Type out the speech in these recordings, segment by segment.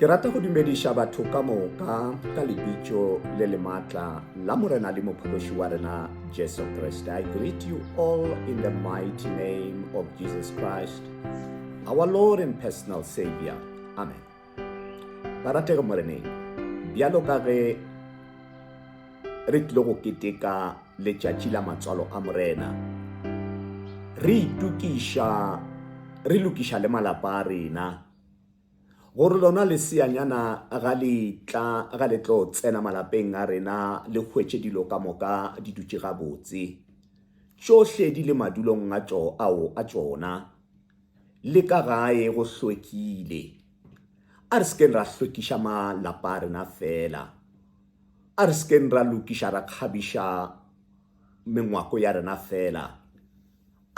Ke rata go dumediša batho ka moka ka lebitšo le le matla la Morena le Mophokoši wa rena Jesu Kriste. I greet you all in the mighty name of Jesus Christ, our Lord and personal Savior. Amen. Baratego Moreneng, bjalo ka ge re tlile go keteka letšatši la matswalo a morena re itukiša re lokiša le malapa a rena gore lona leseanyana ga le tla ga le tlo tsena malapeng a rena le hwetše dilo ka moka di dutše gabotse tšohle di le madulong a tšo ao a tšona le ka gae go hlwekile a re sekeng ra hlwekiša malapa a rena fela A re se keng ra lokiša ra kgabiša mengwako ya rena feela.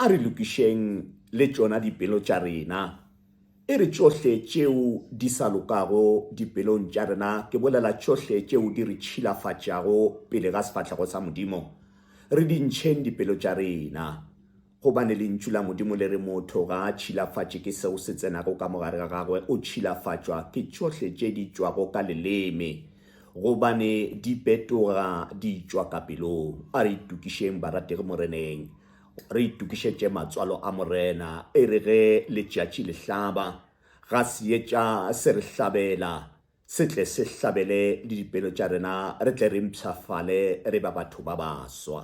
A re lokišeng le tšona dipelo tša rena. E re tšohle tšeo di sa lokago dipelong tša rena, ke bolela tšohle tšeo di re tšhilafatšago pele ga sefahlego sa Modimo, re di ntšheng dipelo tša rena. Gobane Lentšu la Modimo le re, Motho ga a tšhilafatše ke seo se tsenago ka mogare ga gagwe, o tšhilafatšwa ke tšohle tše di tšwago ka leleme, gobane di petoga di tšwa ka pelong. A re itokišeng, barategi Moreneng, re itokišetše matswalo a Morena, e re ge letšatši le hlaba, ga seetša se re hlabela, se tle se hlabele le dipelo tša rena, re tle re mpshafale re ba batho ba baswa.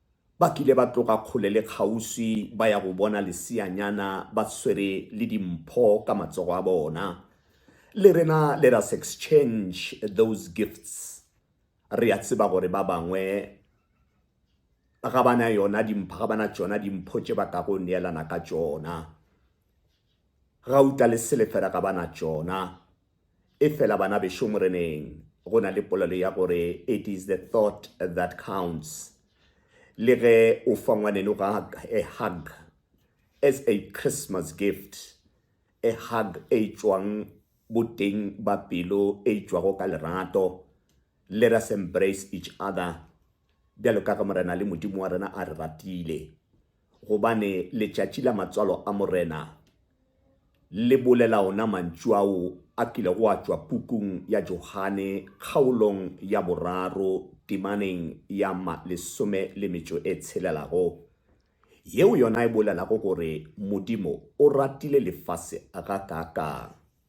Ba kile ba tloga kgole le kgauswi ba ya go bona leseanyana ba swere le dimpho ka matsogo a bona. Le rena let us exchange those gifts. Re a tseba gore ba bangwe ga ba na yona dimpho, ga ba na tšona dimpho tše ba kago neelana ka tšona. Gauta le selefera ga ba na tšona. Efela banabešo Moreneng, go na le polelo ya gore it is the thought that counts. Le ge o fa ngwaneno gag, a hug, as a Christmas gift, a hug e tšwang boteng ba pelo e tšwago ka lerato, let us embrace each other, bjalo ka ge Morena le Modimo wa rena a re ratile. Gobane letšatši la matswalo a Morena le bolela ona mantšu ao a kilego a tšwa pukung ya Johane kgaolong ya boraro temaneng ya ma lesome le metšo e tshelelago, yeo yona e bolelago gore Modimo o ratile lefase gakaakang.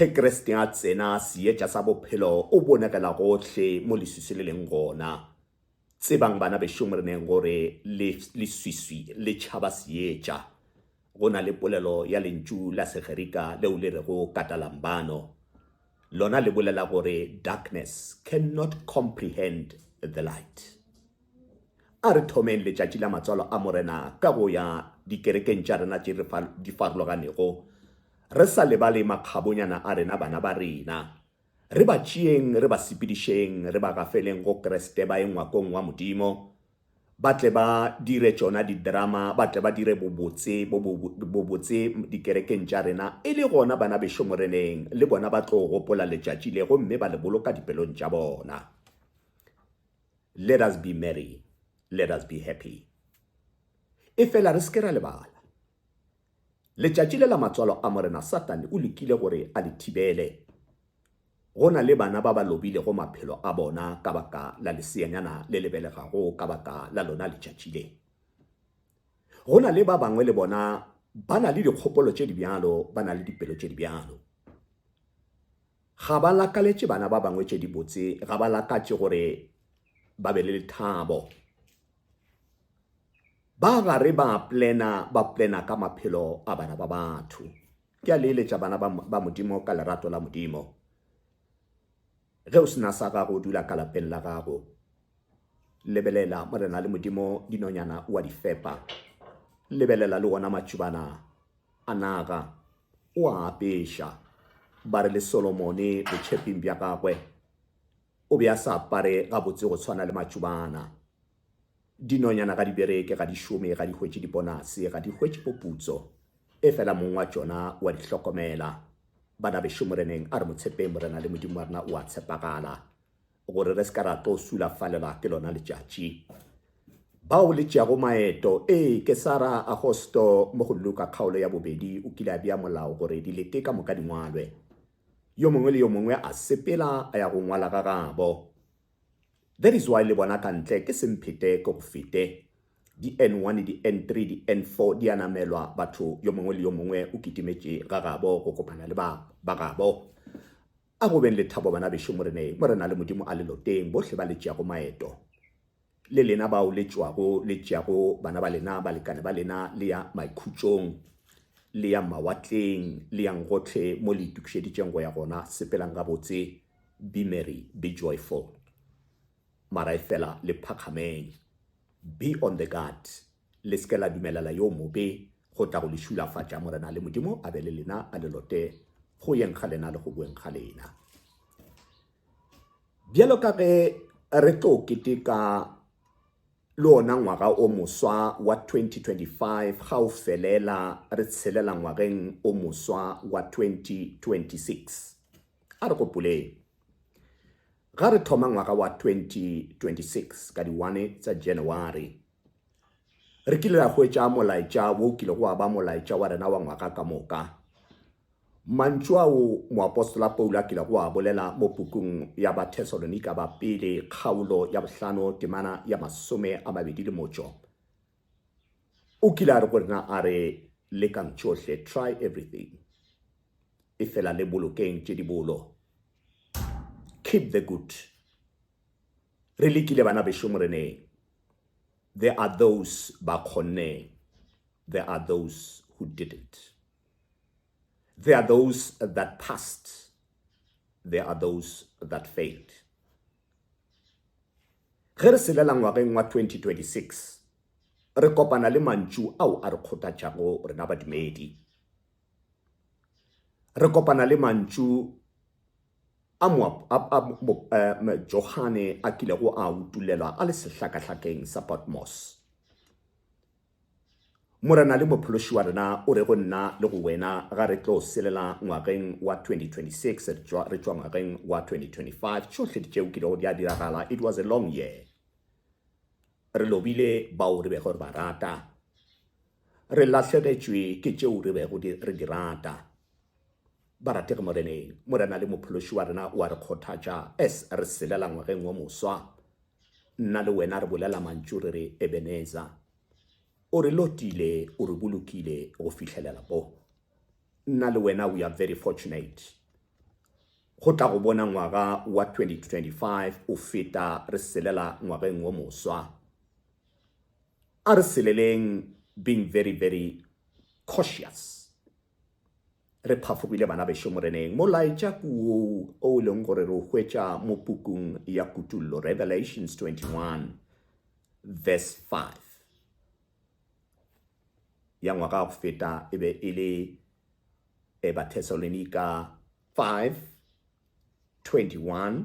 Ge Kriste a tsena, Seetša sa Bophelo o bonagela gohle mo leswiswi le leng gona. Tsebang, bana bešo, mo re neng gore le, leswiswi le tšhaba Seetša. Go na le polelo ya lentšu la Segerika leo le rego katalambano. Lona le bolela gore darkness can not comprehend the light. A re thomeng Letšatši la Matswalo a Morena ka go ya dikerekeng tša rena tše di farologanego, re sa lebale makgabonyana a rena, bana ba rena. Re ba tšeeng, re ba sepedišeng, re ba gafeleng go Kriste, ba ye ngwakong wa Modimo, ba tle ba dire tšona didrama, ba tle ba dire bobotse, bobotse dikerekeng tša rena. E le gona, bana bešo Moreneng, le bona ba tlo gopola letšatši le gomme ba le boloka dipelong tša bona. Let us be merry. Let us be happy. E fela re seke ra lebala. Letšatši le la matswalo a morena Satane o lekile gore a le thibele. Go na le bana ba ba lobilego maphelo a bona ka baka la leseanyana le le belegago ka baka la lona letšatši le. Go na le ba bangwe le bona ba na le dikgopolo tše di bjalo, ba na le dipelo tše di bjalo. Ga ba lakaletše bana ba bangwe tše dibotse, ga ba lakatše gore ba be le lethabo. Ba gare ba plena, ba plena ka maphelo a bana ba batho. Ke a leeletša bana ba Modimo ka lerato la Modimo. Ge o sena sa gago, o dula ka lapeng la gago. Lebelela morena le Modimo, dinonyana o a di fepa. Lebelela le ona matšubana a naga, o a apeša, ba re le Solomone botšheping bja gagwe o be a sa apare gabotse go tshwana le matšobana. Dinonyana ga di bereke, ga di šome, ga di hwetše diponase, ga di hwetše poputso, efela mong wa tšona wa di hlokomela. Banabešu, Moreneng, a re mo tshepeng, Morena le Modimo wa rena o a tshepagala. gore re se ka ra tlo sulafalelwa ke lona letšatši. Bao le tšeago maeto, ee, ke Sara Agosto mo go Luka kgaolo ya bobedi o kile a bea molao gore dilete ka moka di ngwalwe. Yo mongwe le yo mongwe a sepela a ya go ngwala ga gabo. That is why le bona ka ntle ke se mphete ke go fete. Di N1, di N3, di N4 di a namelwa, batho yo mongwe le yo mongwe o kitimetše ga gabo go kopana le ba, ba gabo. A go beng le thabo banabešo Moreneng, mo re na le Modimo a leloteng, bohle ba le tšeago maeto, le lena bao le tšwago le tšeago bana ba lena, balekane ba lena, le ya maikhutšong, le yang mawatleng, le yang gohle mo le itokišeditšeng go ya gona, sepelang gabotse, be merry, be joyful. Mara efela le phakgameng, be on the guard. Le se ke la dumelela yo mobe go tla go le šulafatša. Morena le Modimo a be le lena, a le lote go yeng ga lena le go boeng ga lena. Bjalo ka ge re tlo keteka le ona ngwaga o moswa wa 2025 ga o felela re tshelela ngwageng o moswa wa 2026 a re gopoleng ga re thoma ngwaga wa 2026 ka di-1 tsa january re kile ra hwetša molaetša wo kile go aba molaetša wa rena wa ngwaga ka moka mantšu ao moapostola paulo a kile go a bolela mo pukung ya bathesalonika ba pele kgaolo ya bohlano temana ya masome a mabedi le motšo o kile a re go rena a re lekang tšohle try everything e fela le bolokeng tše dibolo keep the good Re lekile bana bešo Moreneng. There are those ba kgonneng. There are those who didn't. There are those that passed. There are those that failed. Ge re selela ngwageng wa 2026, re kopana le mantšu ao a re kgothatšago rena badumedi. Re kopana le mantšu a Johane a kilego a utolela a le sehlakahlakeng sa Patmos. Morena le Mophološi wa rena o re go nna le go wena ga re tlo selela ngwageng wa 2026 re tšwa ngwageng wa 2025 tšohle ditšeo ke lego di a diragala it was a long year re lobile bao re bego re ba rata Re lahlegetšwe ke tšeo re bego di, re di rata. Barategi Moreneng, Morena le Mophološi wa rena o a re kgothatša as re selela ngwageng wo moswa. Nna le wena re bolela mantšu re re, Ebeneza. O re lotile, o re bolokile go fihlelela bo. Nna le wena we are very fortunate. Go tla go bona ngwaga wa 2025 o feta re selela ngwageng wo moswa. A re seleleng being very very cautious. Re phafogile bana bešo Moreneng, molaetša ke woo o e leng gore re o hwetša mo pukung ya Kutollo, Revelations 21 verse 5. Ya ngwaga wa go feta e be e le e Bathesalonika 5, 21.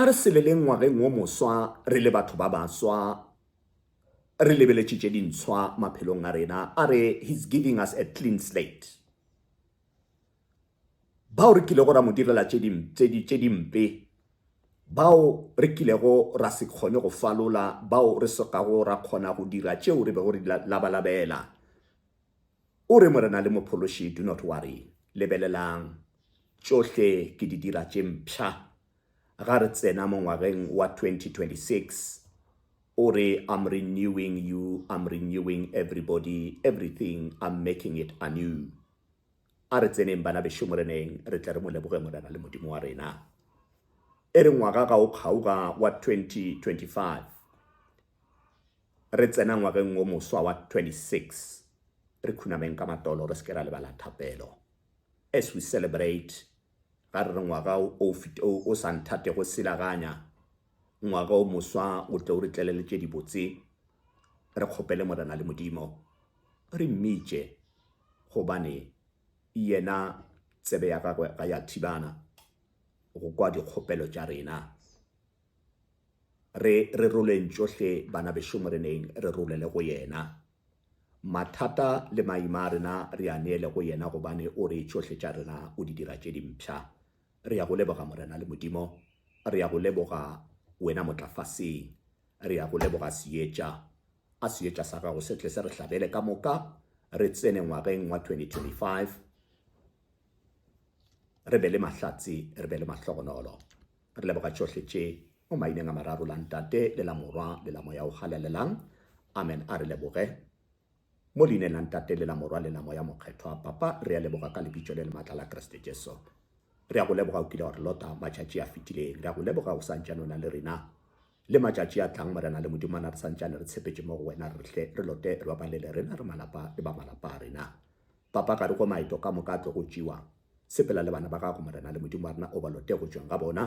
A re sebeleng ngwageng wo moswa re le batho ba baswa, re lebeletše tše dintshwa maphelong a rena. A re He's giving us a clean slate. Bao re kilego ra mo direla tše dimpe, bao re kilego ra se kgone go falola, bao re sokago ra kgona go dira tšeo re bego re di labalabela, O re, Morena le Mophološi, do not worry. Lebelelang, tšohle ke di dira tše mpsha. Ga re tsena mo ngwageng wa 2026, O re, I'm renewing you, I'm renewing everybody, everything, I'm making it anew. A re tseneng, bana bešo, Moreneng, re tle re Mo leboge, Morena le Modimo wa rena. E re ngwaga ga o kgaoga wa 2025, Re tsena ngwageng wo moswa wa 26, re khunameng ka matolo re se ke ra lebala thapelo. As we celebrate, ga re re ngwaga o o sa nthatego silaganya, ngwaga o moswa o tle o re tlele le tše dibotse, re kgopele Morena le Modimo, re mmitše, gobane Yena tsebe ya Gagwe ga ya thibana go kwa dikgopelo tša rena. Re re roleng tšohle bana bešo Moreneng, re rolele go Yena. Mathata le maima a rena re a neele go Yena gobane O re tšohle tša rena o di dira tše di mpsha. Re ya go leboga Morena le Modimo. Re ya go leboga Wena Motlafasing. Re ya go leboga Seetša. A Seetša sa Gago se tle se re hlabele ka moka, re tsene ngwageng wa 2025, re be le mahlatse, re be le mahlogonolo. Re leboga tšohle tše, mo maineng a mararo la Ntate, le la Morwa, le la Moya o Galelelang. Amen. A re leboge. Mo leineng la Ntate, le la Morwa, le la Moya Mokgethwa. Papa, re a leboga ka Lebitso le le matla la Kriste Jesu. Re a go leboga o kile wa re lota matšatši a fetileng. Re a go leboga o sa ntšane o na le rena. Le matšatši a tlang, Morena le Modimana, re sa ntšane re tshepetše mo go wena, re hle re lote re babalele rena, re malapa le ba malapa a rena. Papa ka re go maeto ka moka a tlo go tšewa, sepela le bana ba gago, Morena, le Modimo wa rena o ba lote go tšweng ga bona,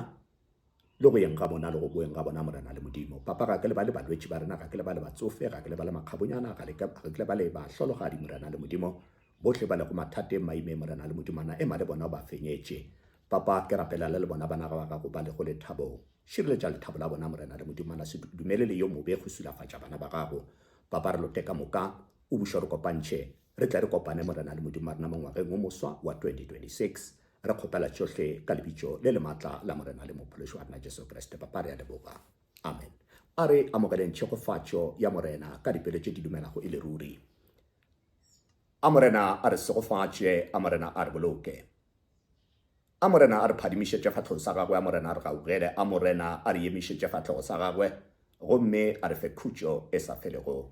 le go yeng ga bona, le go boeng ga bona, Morena le Modimo. Papa, ga ke lebale balwetši ba rena, ga ke lebale batsofe, ga ke lebale makgabonyana, ga le ke, ga ke lebale bahlologadi, Morena le Modimo, bohle ba lego mathateng, maimeng, Morena le Modimo, na ema le bona o ba fenyetše. Papa, ke rapela le le bona bana ga ba gago ba lego lethabong. Šireletša lethabo la bona, Morena le Modimo, na se du, dumele le yo mobe go silafatša bana ba gago. Papa, re lote ka moka, O buša re kopantšhe, re tle re kopane Morena le Modimo wa rena mo ngwageng wo moswa wa 2026. Re kgopela tšohle ka Lebitšo le le matla la Morena le Mophološi wa rena Jesu Kriste, Papa, re a leboga. Amen. A re amogeleng tšhegofatšo ya Morena ka dipelo tše di dumelago e le ruri. A Morena a re segofatše, a Morena a re boloke. A Morena a re phadimišetše fahlego sa Gagwe, a Morena a re gaugele, a Morena a re emišetše fahlego sa Gagwe, gomme a re fe khutšo e sa felego.